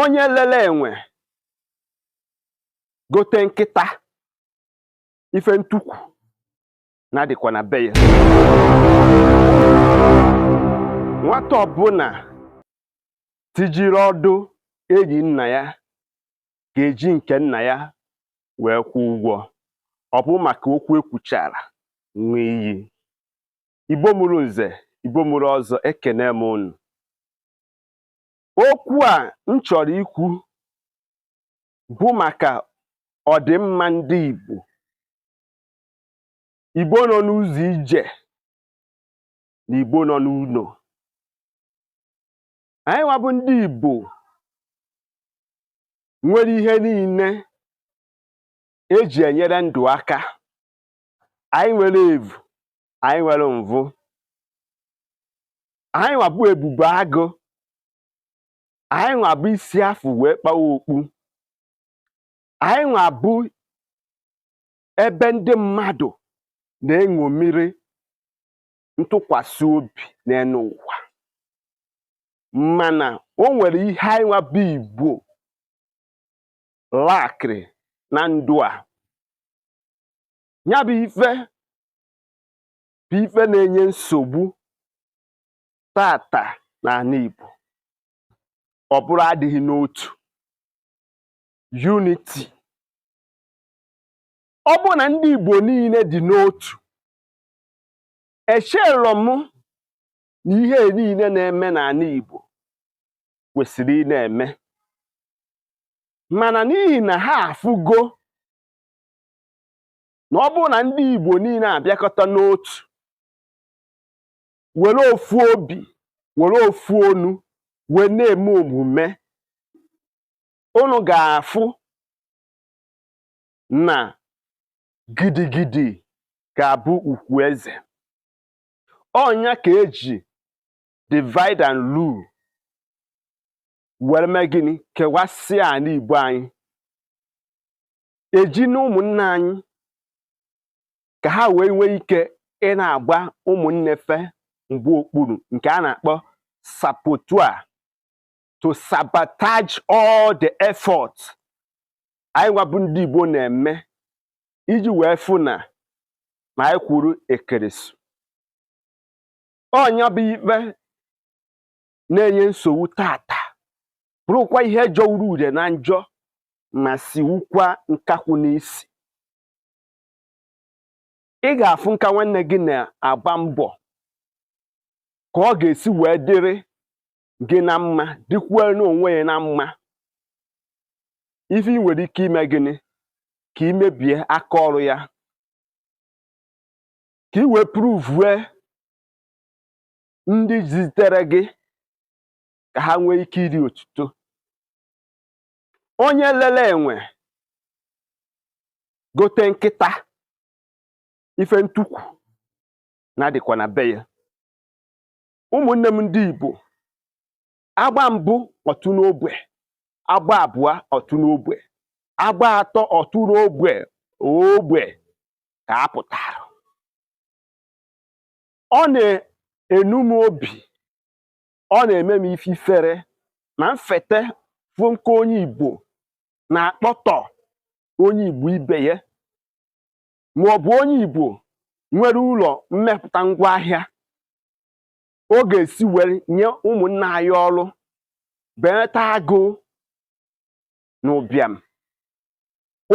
onye lele enwe gote nkịta ife ntukwu na-adịkwa na be ya nwata ọbụla tijiri ọdụ enyi nna ya ga-eji nke nna ya wee kwụọ ụgwọ ọ bụ maka okwu ekwuchara nwee iyi igbo mụrụ nze igbo mụrụ ọzọ ekene m unu okwu a m chọrọ ikwu bụ maka ọdịmma ndị Igbo Igbo nọ n'ụzọ ije na Igbo nọ n'ụlọ anyị nwa bụ ndị Igbo nwere ihe niile eji enyere ndụ aka anyị nwere evu anyị nwere mvụ anyị nwa bụ ebube agụ anyị nwa bụ isi afụ wee kpawa okpu anyị nwa bụ ebe ndị mmadụ na-eṅomiri ntụkwasị obi n'enu ụwa mana o nwere ihe anyị nwa bụ igbo lackịrị na ndụ a nya bụ ife bụ ife na-enye nsogbu taata n'ana Igbo ọ bụrụ adịghị n'otu unity ọ bụ na ndị Igbo niile dị n'otu echelọ m na ihe niile na-eme n'ana Igbo kwesịrị ị na-eme mana n'ihi na ha afụgo na ọ bụrụ na ndị Igbo niile abịakọta n'otu were ofu obi were ofu onu wee na-eme omume unu ga-afụ na gidigidi ga-abụ ugwu eze ọ nya ka eji divide and rule were mee gịnị kewasịa ana Igbo anyị eji na ụmụnne anyị ka ha wee nwee ike ị na-agba ụmụnne fa mgba okpuru nke a na-akpọ saboteur to sabotage all the effort anyị nwa bụ ndị Igbo na-eme iji wee fụ na na anyị kwụrụ ekeresu ọ nya bụ ife na-enye nsogbu tata bụrụkwa ihe jọwuru udele na njọ ma siwukwa nkakwụ n'isi ị ga-afụ nka nwanne gị na-agba mbọ ka ọ ga-esi wee dịrị gị na mma dịkwuo n'onwe ya na mma ife ị nwere ike ime gịnị ka ị mebie aka ọrụ ya ka ị wee pruvue ndị zitere gị ka ha nwee ike iri otuto onye lele enwe gote nkịta ife ntukwu na-adịkwa na be ya ụmụnne m ndị Igbo a gbaa mbụ ọ tụọ n'ogbe a gbaa abụọ ọ tụọ n'ogbe a gbaa atọ ọ tụọ n'ogbe ogbe ka a pụtara ọ na-enu m obi ọ na-eme m ife ifere na m fete fụ nke onye Igbo na-akpọtọ onye Igbo ibe ya ma ọ bụ onye Igbo nwere ụlọ mmepụta ngwaahịa ọ ga-esi were nye ụmụnna anyị ọrụ belata agụụ na ụbịam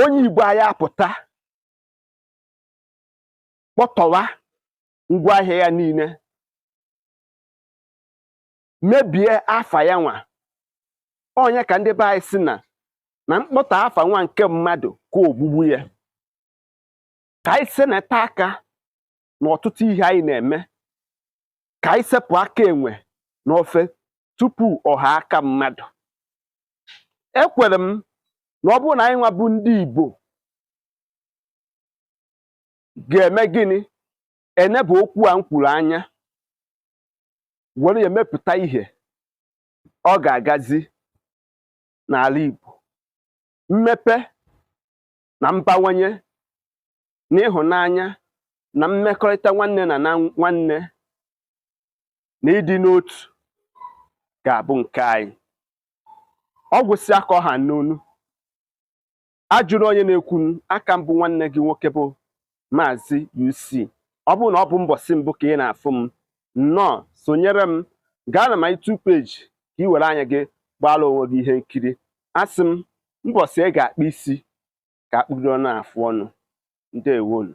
onye Igbo anyị apụta kpọtọwa ngwa ahịa ya niile mebie afa ya nwa ọ nya ka ndị be anyị sị na na mkpọtọ afa nwa nke mmadụ ka ogbugbu ya ka anyị seneta aka na ọtụtụ ihe anyị na-eme ka anyị sepụ aka enwe n'ofe tupu ọ ghọọ aka mmadụ ekwere m na ọ bụrụ na anyị nwa bụ ndị Igbo ga-eme gịnị enebe okwu a m kwuru anya were ya emepụta ihe ọ ga-agazi n'ala Igbo mmepe na mbawanye na ịhụnanya na mmekọrịta nwanne na na nwanne na ịdị n'otu ga-abụ nke anyị ọ gwụsịa ka ọ ha m n'ọnụ ajụrụ onye na-ekwu aka m bụ nwanne gị nwoke bụ maazị UC ọ bụrụ na ọ bụ mbọsị mbụ ka ị na-afụ m nnọọ sonyere m gaa na my YouTube page ka ị were anya gị gbaara onwe gị ihe nkiri asị m mbọsị a ga-akpụ isi ka a kpụdo n'afụ ọnụ ndewonu